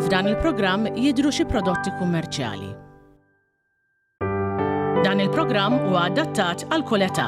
F'dan il-programm jidhru xi prodotti kummerċjali. Dan il-programm huwa adattat għal kull età.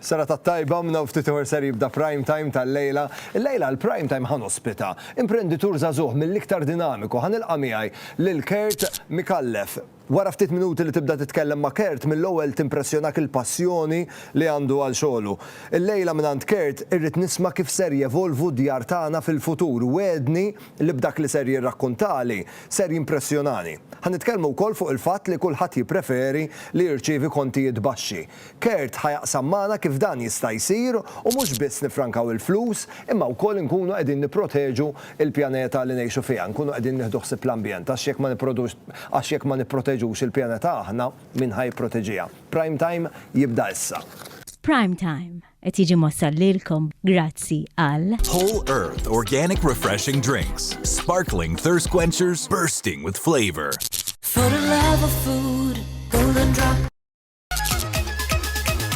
Sara tat-tajba mna u ftit ieħor ser jibda prime time tal-lejla. Il-lejla l-prime time ħan ospita. Imprenditur żagħżugħ mill-iktar dinamiku ħan ilqa' miegħi lil Kurt Mikallef. Wara ftit minuti li tibda titkellem ma' Kurt, mill-ewwel timpressjonak il-passjoni li għandu għal xogħlu. Illejla mingħand Kurt irrid nisma' kif ser jevolvu d-djar tagħna fil-futur. Wegħedni li b'dak li ser jirrakkuntali, ser jimpressjonani. Ħa nitkellmu wkoll fuq il-fatt li kulħadd jippreferi li jirċievi kontijiet baxxi. Kurt ħa jaqsam magħna kif dan jista' jsir u mhux biss niffrankaw il-flus imma wkoll inkunu qegħdin nipproteġu l-pjaneta li ngħixu fiha, nkunu qegħdin nieħdu ħsieb l-ambjent għax jekk ma nipprodux għax jekk ma nipproteġux il-pjaneta aħna, min ħa jipproteġiha? Prime Time jibda issa. Prime Time qed jiġi mwassal lilkom grazzi għal. Whole Earth Organic Refreshing Drinks, Sparkling Thirst Quenchers Bursting with Flavor. For the love of food, golden drop.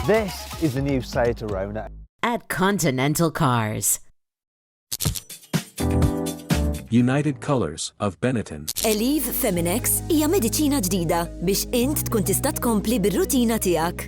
This is the new Seat Arona. At Continental Cars. United Colors of Benetton. Eliv Feminex hija mediċina ġdida biex int tkun tista' tkompli bir-rutina tiegħek.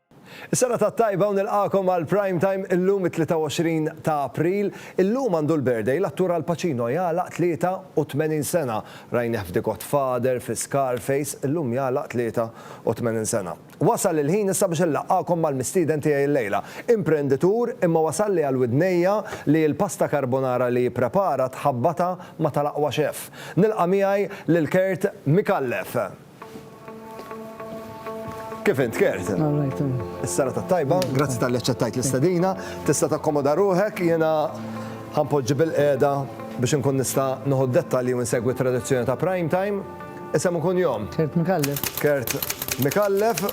Is-serata t-tajba u nilqagħkom għal Prime Time illum it-23 ta' April. Illum għandu l-birthday l-attur Al Pacino jagħlaq 83 sena. Rajnieh f'The Godfather, fi Scarface, illum jagħlaq 83 sena. Wasal il-ħin issa biex inlaqqagħkom mal-mistieden tiegħi llejla. Imprenditur imma wasalli għal widnejja li l-pasta carbonara li jipprepara tħabbatha ma' tal-aqwa chef. Nilqa' miegħi lil Kurt Micallef. Kif int, Kert? Is-sara ta' tajba, grazzi tal-li ċettajt l-istadina, tista' takkomoda ruħek, jena ħampoġġi bil-qeda biex nkun nista' noħu dettalji u nsegwi tradizzjoni ta' prime time. Isem ikun jom. Kert Mikallef. Kert Mikallef.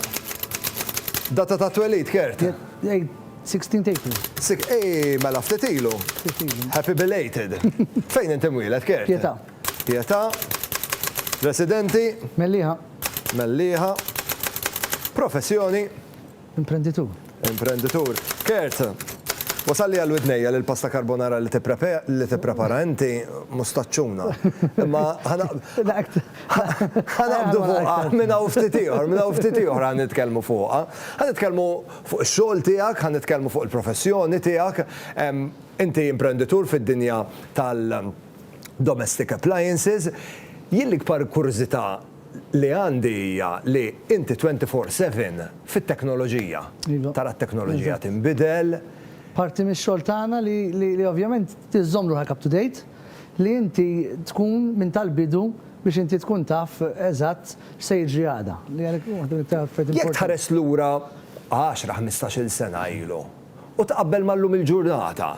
Data ta' twelid, Kert. 16 April. Sik, ej, mela ftitilu. Happy belated. Fejn inti mwilet, Kert? Pieta. Pietà, Residenti. Mellieħa. Mellieħa, Professjoni. Imprenditur. Imprenditur. Kurt, Wasalli għal widnejja li l-pasta carbonara li tipprepara inti mhu staċċuna. Imma ħa naqbdu fuqha minn hawn ftit ieħor, minn hawn ftit ieħor ħa nitkellmu fuqha. Ħa nitkellmu fuq ix-xogħol tiegħek, ħa nitkellmu fuq il-professjoni tiegħek. Inti imprenditur fid-dinja tal- Domestic Appliances, jien l-ikbar kurżità li għandi hija li inti twenty four seven fit-teknoloġija. Iva. Tara t-teknoloġija tinbidel. Parti mix-xogħol tagħna li li ovvjament iżżomm ruħek up to date, li inti tkun minn tal-bidu biex inti tkun taf eżatt x'se jiġri għada. Li għalhekk waħda mill-iktar affarijiet importanti. Jekk tħares lura għaxra ħmistax-il sena ilu, u tqabbel ma' llum il-ġurnata,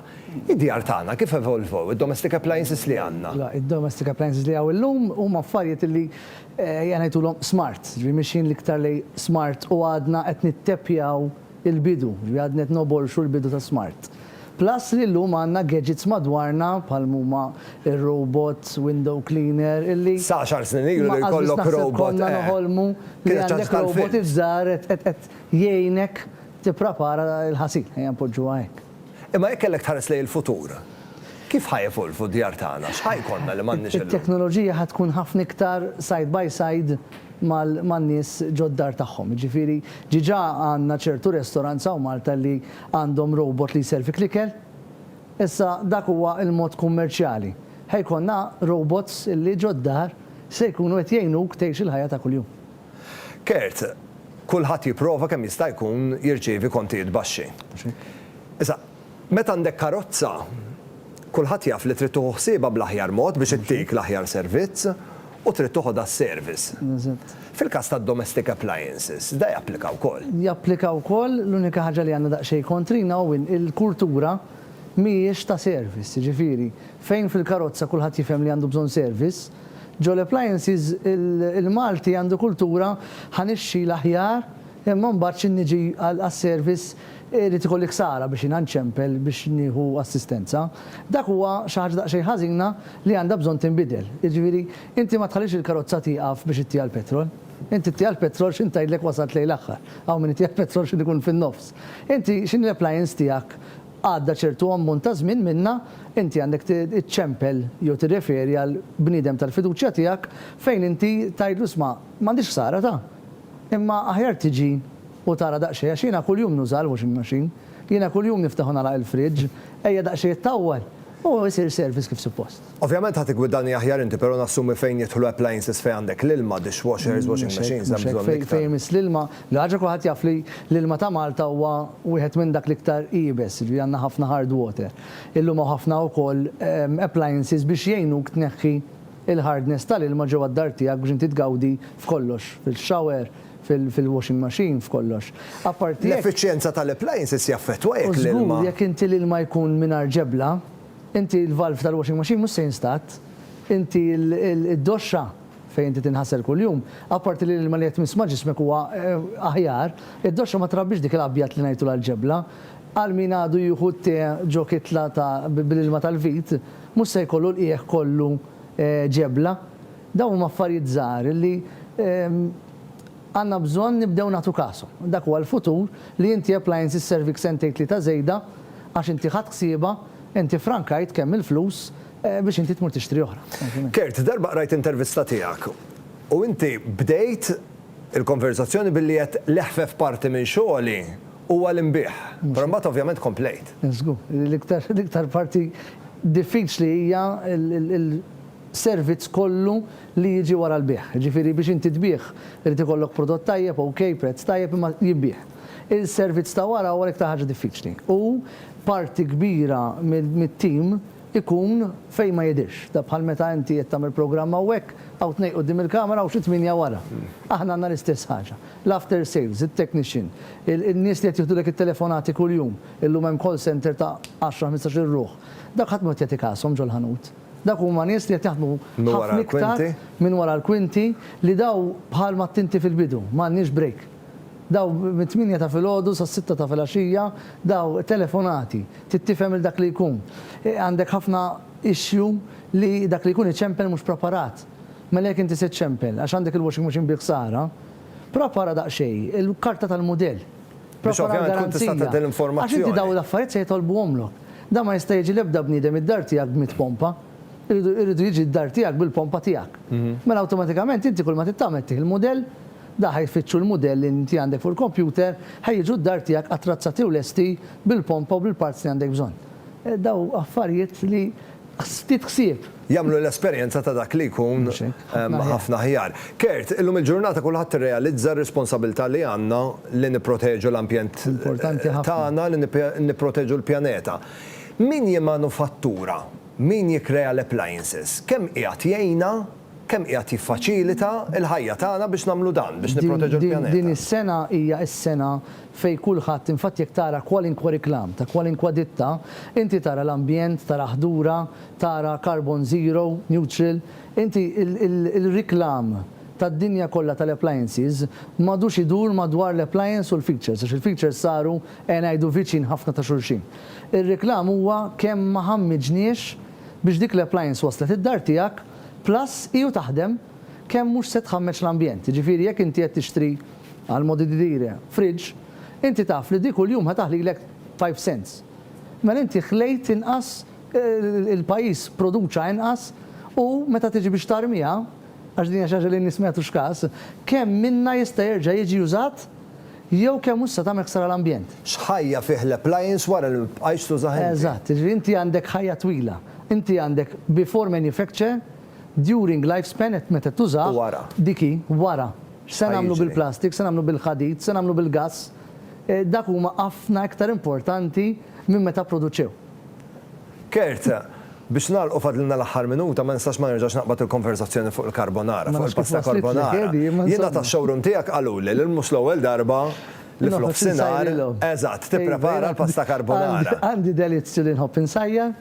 id-djar tagħna kif evolvew, id-domestic appliances li għandna? La, id-domestic appliances li hawn illum huma affarijiet illi, ejja ngħidulhom smart, jiġifieri mixjin l-iktar lejn smart u għadna qed nitteppjaw il-bidu, jiġifieri għadna qed nogħbolxu l-bidu ta' smart. Plus li llum għandna gadgets madwarna bħal m'huma r-robot window cleaner illi, Sa għaxar snin ilu li jkollok robot, eh, kienet ċaġġa tal-films. ma qatt biss naħseb konna noħolmu li għandek robot iż-żgħar qed jgħinek Tipprepara l-ħasil, ejja npoġġuha hekk. Imma jekk kellek tħares lejn il-futur, kif ħa jevolvu d-djar tagħna? X'ħa jkollna li m'għandniex illum? It-teknoloġija ħa tkun ħafna iktar side by side man-nies ġo d-dar tagħhom. Jiġifieri diġà għandna ċertu restaurants hawn Malta li għandhom robot li jservik l-ikel. Issa dak huwa l-mod kummerċjali. Ħa jkollna robots li ġo d-dar se jkunu qed jgħinuk tgħix il-ħajja ta' kuljum. Kurt, Kulħadd jipprova kemm jista' jkun jirċievi kontijiet baxxi. Issa, meta għandek karozza, kulħadd jaf li trid tieħu ħsiebha bl-aħjar mod biex ittik l-aħjar servizz u trid toħodha s-service. Fil-każ tad-domestic appliances, da japplika wkoll. Japplika wkoll, l-unika ħaġa li għandna daqsxejn kontrina hu in il-kultura mhijiex ta' service, jiġifieri, fejn fil-karozza kulħadd jifhem li għandu bżonn service, Ġo l-appliances il-Malti għandu kultura ħa nixxi l-aħjar imma mbagħad xi niġi għas-service irid ikolli ksara biex jiena nċempel biex nieħu assistenza. Dak huwa xi ħaġa daqsxejn ħażina li għandha bżonn tinbidel. Jiġifieri inti ma tħallix il-karozza tieqaf biex ittiha l-petrol. Inti ttiha l-petrol x'inhi tgħidlek wasalt lejn l-aħħar. Hawn min ittiha l-petrol x'inhu jkun fin-nofs. Inti x'inhi l-appliance tiegħek? Għadda ċertu ammont ta' żmien minnha, inti għandek iċċempel jew tirreferi għal bniedem tal-fiduċja tiegħek fejn inti tgħidlu 'isma', m'għandix ħsara ta', imma aħjar tiġi u tara daqsxejn għax jiena kuljum nuża l-washing machine, jiena kuljum niftaħ u nagħlaq il-fridge, ejja daqsxejn ittawwal u jsir service kif suppost. Ovvjament ħa tiggwidanja aħjar inti pero nassumi fejn jidħlu appliances fejn għandek l-ilma, dishwashers, washing machines hemm bżonn iktar. Mhux hekk, fejn jmiss l-ilma, l-ħaġa kulħadd jaf li l-ilma ta' Malta huwa wieħed minn dak l-iktar iebes, jiġifieri għandna ħafna hard water. Illum hawn ħafna wkoll appliances biex jgħinuk tneħħi l-hardness tal-ilma ġewwa d-dar tiegħek biex inti tgawdi f'kollox, fil-shower, fil-washing machine, f'kollox. Apparti hekk. L-effiċjenza tal-appliances jaffettwa jekk l-ilma. U żgur jekk inti l-ilma jkun mingħajr ġebla. Inti il-valve tal-washing machine mhux se jinstat. Inti id-doxxa fejn inti tinħasel kuljum. Apparti li l-ilma li qed tmiss ma' ġismek huwa aħjar, id-doxxa ma trabbix dik l-abjad li ngħidtu l-alġebla. Għal min għadu jieħu t-te ġo kitla ta' bl-ilma tal-vit, mhux se jkollu l-qiegħ kollu ġebla. Dawn huma affarijiet żgħar li Għandna bżonn nibdew nagħtu kasu. Dak huwa l-futur li inti Appliances servik sentejn tlieta żejda għax inti ħadt ħsiebha, inti ffrankajt kemm il-flus biex inti tmur tixtri oħra. Kurt, darba qrajt intervista tiegħek u inti bdejt il-konverżazzjoni billi għedt l-eħfef parti minn xogħli huwa l-inbigħ. Però mbagħad ovvjament komplejt. Żgur. L-iktar parti diffiċli hija l. servizz kollu li jiġi wara l-bigħ. Jiġifieri biex inti tbigħ irid ikollok prodott tajjeb, OK, prezz tajjeb, imma jinbigħ. Il-servizz ta' wara huwa l-iktar ħaġa diffiċli u parti kbira mit-tim ikun fejn ma jidhirx. Da bħal meta inti qed tagħmel programm hawnhekk, hawn tnejn quddiem il-kamera u xi tmienja wara. Aħna għandna l-istess ħaġa. L-after sales, it-technician, in-nies li qed jieħdulek it-telefonati kuljum, illum hemm call center ta' għaxra ħmistax-il ruħ, dawk ħadd ma jrid jagħti kashom ġol-ħanut. Dawk huma nies li qed jaħdmu ħafna iktar minn wara l-kwinti li daw bħal ma għedt inti fil-bidu, ma għandniex break. Daw mit-tmienja ta' filgħodu sas-sitta ta' filgħaxija daw telefonati, trid tifhem 'il dak li jkun. Għandek ħafna issue li dak li jkun iċempel mhux preparat. Mela jekk inti se ċċempel għax għandek il-washing machine bi ħsara, prepara daqsxejn il-karta tal-mudell. biex ovvjament tkun tista' tgħaddi l-informazzjoni. Għax inti dawn l-affarijiet se jitolbuhomlok. Dan ma jista' jiġi l-ebda bniedem id-dar tiegħek b'mitt pompa. Iridu iridu jiġi d-dar tiegħek bil-pompa tiegħek. Mela awtomatikament inti kull ma trid tagħmel tieħ il-mudell, da ħa jfittxu l-mudell li inti għandek fuq il-kompjuter, ħa jiġu d-dar tiegħek attrazzati u lesti bil-pompa u bil-parts li għandek bżonn. Dawn affarijiet li ftit ħsieb. Jagħmlu l-esperjenza ta' dak li jkun ħafna aħjar. Kurt, illum il-ġurnata kulħadd irrealizza r-responsabilità li għandna li nipproteġu l-ambjent tagħna, li nipproteġu l-pjaneta. Min jimmanufattura, min jikkrea l-appliances, kemm qiegħed jgħinna, kemm qiegħed jiffaċilita l-ħajja tagħna biex nagħmlu dan, biex nipproteġu l-pjaneta? Din is-sena hija s-sena fejn kulħadd, infatti jekk tara kwalinkwa reklam ta' kwalinkwa ditta, inti tara l-ambjent, tara ħdura, tara carbon zero, neutral, inti il-reklam tad-dinja kollha tal-appliances m'għadux idur madwar l-appliance u l-features għax il-features saru ejja ngħidu viċin ħafna ta' xulxin. Ir-reklam huwa kemm ma ħammiġniex biex dik l-appliance waslet id-dar tiegħek plus hi u taħdem kemm mhux se tħammeġ l-ambjent. Jiġifieri jekk inti qed tixtri. Għal modididire, fridge, inti taf li di kuljum ħa taħlilek five cents. Mela inti ħlejt inqas, il-pajjiż produċa inqas u meta tiġi biex tarmiha, għax din hija xi ħaġa li n-nies ma jagħtux kas, kemm minnha jista' jerġa' jiġi użat jew kemm mhux se tagħmel ħsara l-ambjent. X'ħajja fih l-appliance wara li ma tibqajx tużah inti? Eżatt, jiġifieri inti għandek ħajja twila. Inti għandek before manufacture, during lifespan, meta tużah, dik hi, wara. X'se nagħmlu bil-plastik, x'se nagħmlu bil-ħadid, x'se nagħmlu bil-gass, dak huma ħafna iktar importanti minn meta pproduċew. Kurt, biex nagħlqu fadlilna l-aħħar minuta ma nistax ma nerġax naqbad il-konverżazzjoni fuq il-carbonara, fuq il-pasta carbonara. Jiena tax-showroom tiegħek qaluli li mhux l-ewwel darba li f'nofsinhar, eżatt, tipprepara l-pasta carbonara. Għandi delizzju li nħobb insajjar.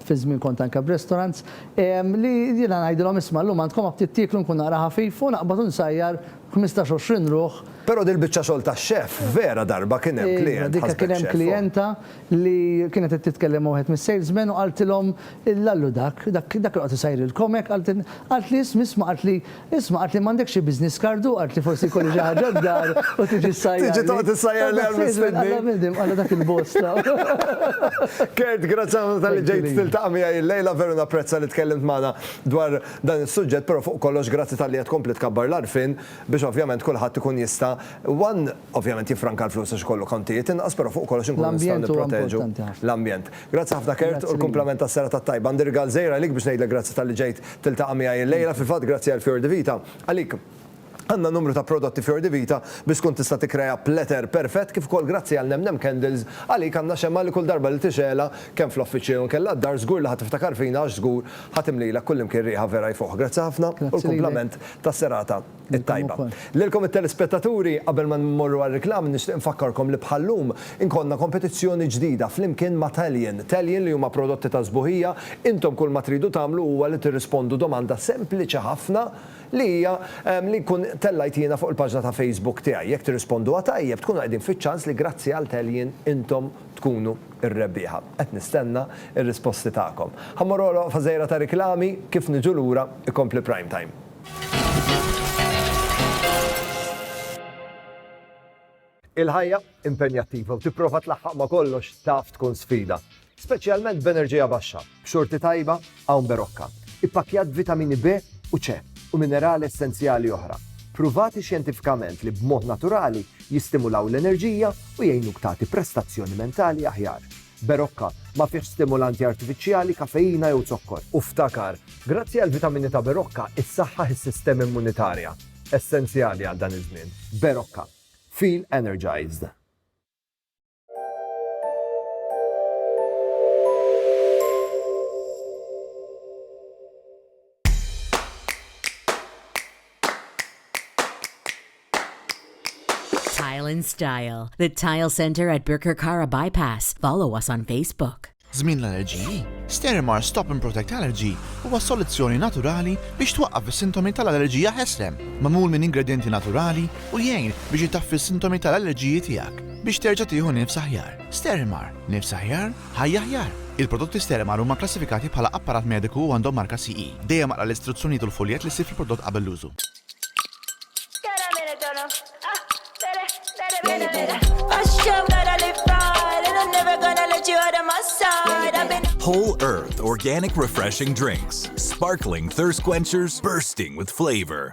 fi żmien kont anke b'restaurants, li jiena ngħidilhom isma' llum għandkom ma ftit tieklu nkun naqra ħafif u naqbad u nsajjar ħmistax għoxrin ruħ. Però dil-biċċa xogħol ta' chef vera darba kien hemm klijent ħasbek chef. Iva, kien hemm klijenta li kienet qed titkellem ma' wieħed mis-salesmen u qaltilhom l-allu dak, dak li joqgħod isajrilkom hekk, qaltli isma' isma' qaltli Isma' qaltli m'għandekx xi business card u qaltli forsi jkolli xi ħaġa d-dar u tiġi ssajjarli. Tiġi toqgħod issajjarli għal mistiedni. Alla bniedem, alla dak il-bosta. Kurt, grazzi ħafna talli ġejt tiltaqa' miegħi illejla, veru napprezza li tkellimt magħna dwar dan is-suġġett, però fuq kollox grazzi talli qed tkompli tkabbar l-għarfien biex ovvjament kulħadd ikun jista' one Ovvjament jiffranka l-flus għax ikollu kontijiet inqas, però fuq kollox inkunu nistgħu nipproteġu l-ambjent. Grazzi ħafna Kurt u l-kumplament tas-serata t-tajba. Għandi rigal żgħir għalik biex ngħidlek grazzi talli ġejt tiltaqa' miegħi illejla. Fil-fatt grazzi għal Fior di Vita, għalik għandna numru ta' prodotti Fior di Vita biex tkun tista' tikkrea platter perfett kif ukoll grazzi għal Nemnem Candles, għalik għandna xemgħa li kull darba li tixegħelha kemm fl-offiċċju jew inkella d-dar żgur li ħa tiftakar fina għax żgur ħa timlilek kullimkien riħa vera jfuħ. Grazzi ħafna u l-kumplament tas-serata. it-tajba. Lilkom it-telespettaturi, qabel ma mmorru għar-reklam nixtieq infakkarkom li bħal-lum inkollna kompetizzjoni ġdida flimkien ma' Talion. Talion li huma prodotti ta' sbuħija, intom kull ma tridu tagħmlu huwa li tirrispondu domanda sempliċi ħafna li hija li nkun tellajt jiena fuq il-paġna ta' Facebook tiegħi. Jekk tirrisponduha tajjeb tkunu qegħdin fiċ-ċans li grazzi għal Talion intom tkunu r-rebbieħa. Qed nistenna r-risposti tagħkom. Ħa mmorru għal waqfa żgħira ta' riklami, kif niġu lura ikompli Primetime. Il-ħajja impenjattiva u tipprova tlaħħaq ma' kollox taf tkun sfida, speċjalment b'enerġija baxxa, b'xorti tajba hawn Berocca, ippakkjat vitamini B u C u minerali essenzjali oħra, pruvati xjentifikament li b'mod naturali jistimulaw l-enerġija u jgħinuk tagħti prestazzjoni mentali aħjar. Berocca, ma fihx stimulanti artifiċjali, kafeina jew zokkor. U ftakar, grazzi għall-vitamini ta' Berocca issaħħaħ is-sistema immunitarja, essenzjali għal dan iż-żmien. Berocca. Feel energized. Tile and Style, the Tile Center at Birkirkara Bypass. Follow us on Facebook. Żmien l-allerġiji, Sterimar Stop and Protect Allergy huwa soluzzjoni naturali biex twaqqaf is-sintomi tal-allerġija ħeslem, magħmul minn ingredjenti naturali u jgħin biex itaffi s-sintomi tal-allerġiji tiegħek biex terġa' tieħu nifs aħjar. Sterimar, nifs aħjar Ħajja aħjar! Il-prodotti Sterimal huma kklassifikati bħala apparat mediku u għandhom marka CE. Dejjem aqra l-istruzzjonijiet u l-fuljett li ssib fil-prodott qabel l-użu. Whole Earth Organic Refreshing Drinks, Sparkling Thirst Quenchers Bursting With Flavor.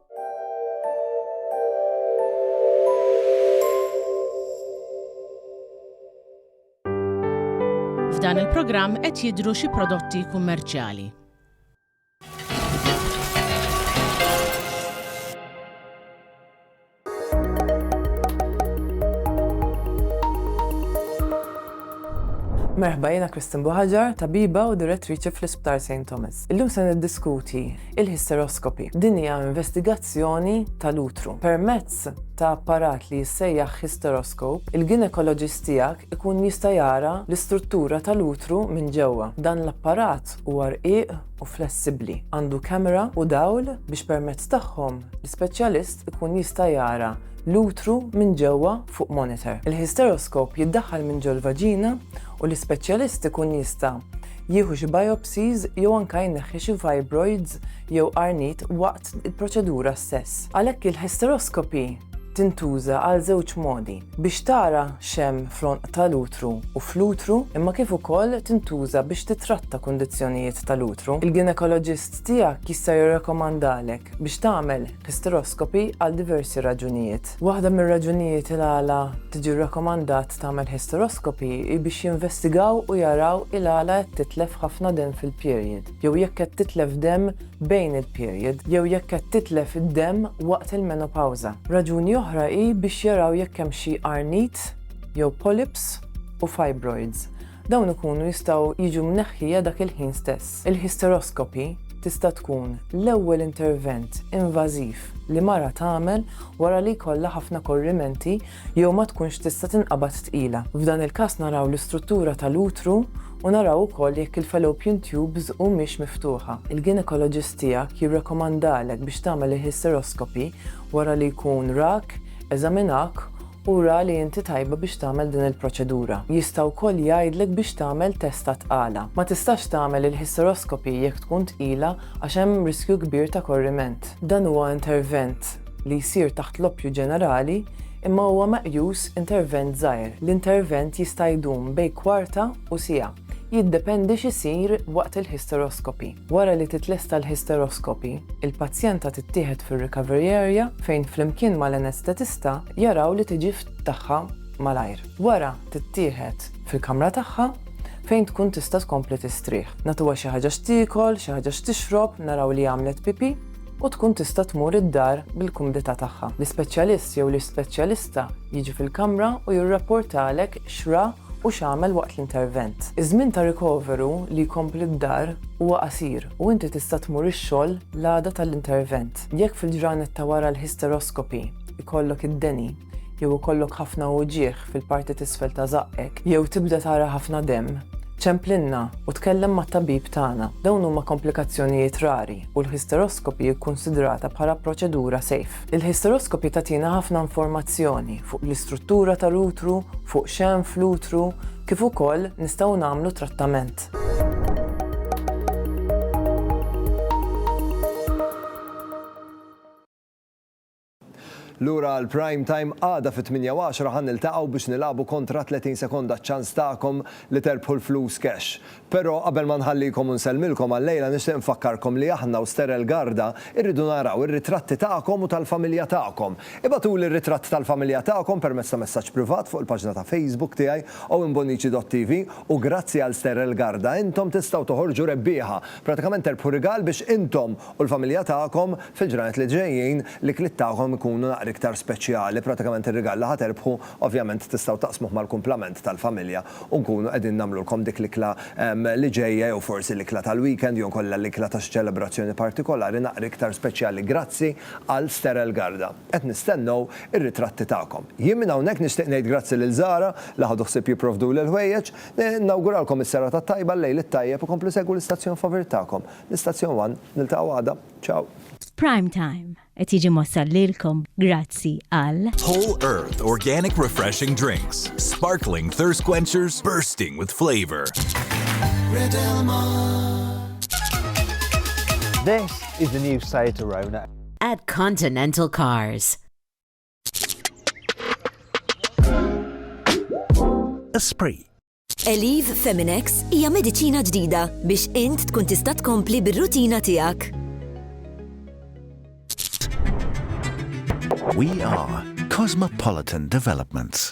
F'dan il-programm qed jidhru xi prodotti kummerċjali. Merħba jiena Kristin Buħaġar, tabiba u direttriċi fl-Isptar St. Thomas. Illum se niddiskuti Il-histeroskopi. Din hija investigazzjoni tal-utru. Permezz ta' apparat li jissejjaħ histeroskop, il-ginekoloġist tiegħek ikun jista' jara l-istruttura tal-utru minn ġewwa. Dan l-apparat huwa rqiq u flessibbli. Għandu kamera u dawl biex permezz tagħhom l-ispeċjalist ikun jista' jara l-utru minn ġewwa fuq monitor. Il-histeroskop jiddaħħal minn ġol-vaġina u l-ispeċjalist ikun jista' jieħu xi biopsies jew anke jneħħi xi fibroids jew qarniet waqt il-proċedura stess. Għalhekk il-hysteroscopy tintuża għal żewġ modi, biex tara x'hemm fl-għonq tal-utru u fl-utru, imma kif ukoll tintuża biex titratta kundizzjonijiet tal-utru. Il-ginekoloġist tiegħek jista' jirrakkomandalek biex tagħmel hysteroscopy għal diversi raġunijiet. Waħda mir-raġunijiet il-għala tiġi rrakkomandat tagħmel hysteroscopy hi biex jinvestigaw u jaraw il-għala qed titlef ħafna demm fil-period, jew jekk qed titlef demm bejn il-period, jew jekk qed titlef id-demm waqt il-menopawża. Raġuni oħra hi biex jaraw jekk hemm xi qarnit jew polyps u fibroids. Dawn ikunu jistgħu jiġu mneħħija dak il-ħin stess. Il-hysteroscopy tista' tkun l-ewwel intervent invażiv li mara tagħmel wara li jkollha ħafna korrimenti jew ma tkunx tista' tinqabad tqila. F'dan il-każ naraw l-istruttura tal-utru u naraw ukoll jekk il-fallopian tubes humiex miftuħa. Il-ginekoloġist tiegħek jirrakkomandalek biex tagħmel il-hysteroscopy wara li jkun rak, eżaminak Ura li inti tajba biex tagħmel din il-proċedura. Jista' wkoll jgħidlek biex tagħmel test ta' tqala. Ma tistax tagħmel il-hysteroscopy jekk tkun tqila għax hemm riskju kbir ta' korriment. Dan huwa intervent li jsir taħt l-oppju ġenerali imma huwa meqjus intervent żgħir. L-intervent jista' jdum bejn kwarta u siegħa. Jiddependi x'isir waqt il-hysteroscopy. Wara li titlesta l-hysteroscopy, il-pazjenta tittieħed fir-recovery area fejn flimkien mal-anestetista jaraw li tiġi tagħha malajr. Wara tittieħed fil-kamra tagħha fejn tkun tista' tkompli tistrieħ. Nagħtuha xi ħaġa x'tiekol, xi ħaġa x'tixrob, naraw li għamlet pipì. u tkun tista' tmur id-dar bil-kumdità tagħha. L-ispeċjalist jew l-ispeċjalista jiġi fil-kamra u jirrapportalek x'ra u x'għamel waqt l-intervent. Iż-żmien ta' rikoveru li jkompli d-dar huwa qasir u inti tista' tmur ix-xogħol l-għada tal-intervent. Jekk fil-ġranet ta' wara l-hysteroscopy jkollok id-deni, jew ikollok ħafna uġigħ fil-parti t'isfel ta' żaqqek, jew tibda tara ħafna demm, ċemplilna u tkellem mat-tabib tagħna. Dawn huma komplikazzjonijiet rari u l-histeroskopi hi kkunsidrata bħala proċedura safe. Il-histeroskopi tagħtina ħafna informazzjoni fuq l-istruttura tal-utru, fuq x'hemm fl-utru, kif ukoll nistgħu nagħmlu trattament. Lura għall-Prime Time għada fit-tmienja u għaxra ħa niltaqgħu biex nilagħbu kontra 30 sekonda ċ-ċans tagħkom li terbħu l-flus cash. Però qabel ma nħallikom u nsellmilkom għal-lejla nixtieq nfakkarkom li aħna u Sterel Garda irridu naraw ir-ritratti tagħkom u tal-familja tagħkom. Ibgħatuli r-ritratt tal-familja tagħkom permezz ta' messaġġ privat fuq il-paġna ta' Facebook tiegħi owenbonici.tv u grazzi għal Sterel Garda intom tistgħu toħorġu rebbieħa. Pratikament terbħu rigal biex intom u l-familja tagħkom fil-ġranet li ġejjin l-ikliet tagħkom ikunu naqra iktar speċjali, pratikament ir-rigal li ħa terbħu ovvjament tistgħu taqsmuh mal-kumplament tal-familja u nkunu qegħdin nagħmlulkom dik l-ikla li ġejja jew forsi l-ikla tal-weekend jew inkella l-ikla ta' xi ċelebrazzjoni partikolari naqra iktar speċjali grazzi għal Sterel Garda. Qed nistennew ir-ritratti tagħkom. Jien minn hawnhekk nixtieq ngħid grazzi lil Zara li ħadu ħsieb jipprovduli l-ħwejjeġ. Nawguralkom is-serata t-tajba, l-lejl it-tajjeb, u komplu segwu l-istazzjon favirit tagħkom. L-Istazzjon One, niltaqgħu għada. Ciao. Prime Time qed jiġi mwassal lilkom grazzi għal. Whole Earth Organic Refreshing Drinks, Sparkling Thirst Quenchers Bursting with Flavor. This is the new Seat Arona. At Continental Cars. Esprit Eliv Feminex hija mediċina ġdida biex int tkun tista' tkompli bir-rutina tiegħek. We are Cosmopolitan Developments.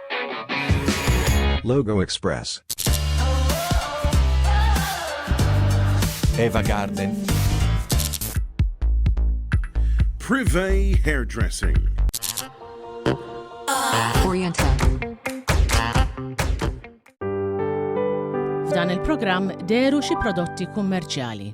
Logo Express. Eva Garden. Privé Hairdressing. Oriental. F'dan il-programm deru xi prodotti kummerċjali.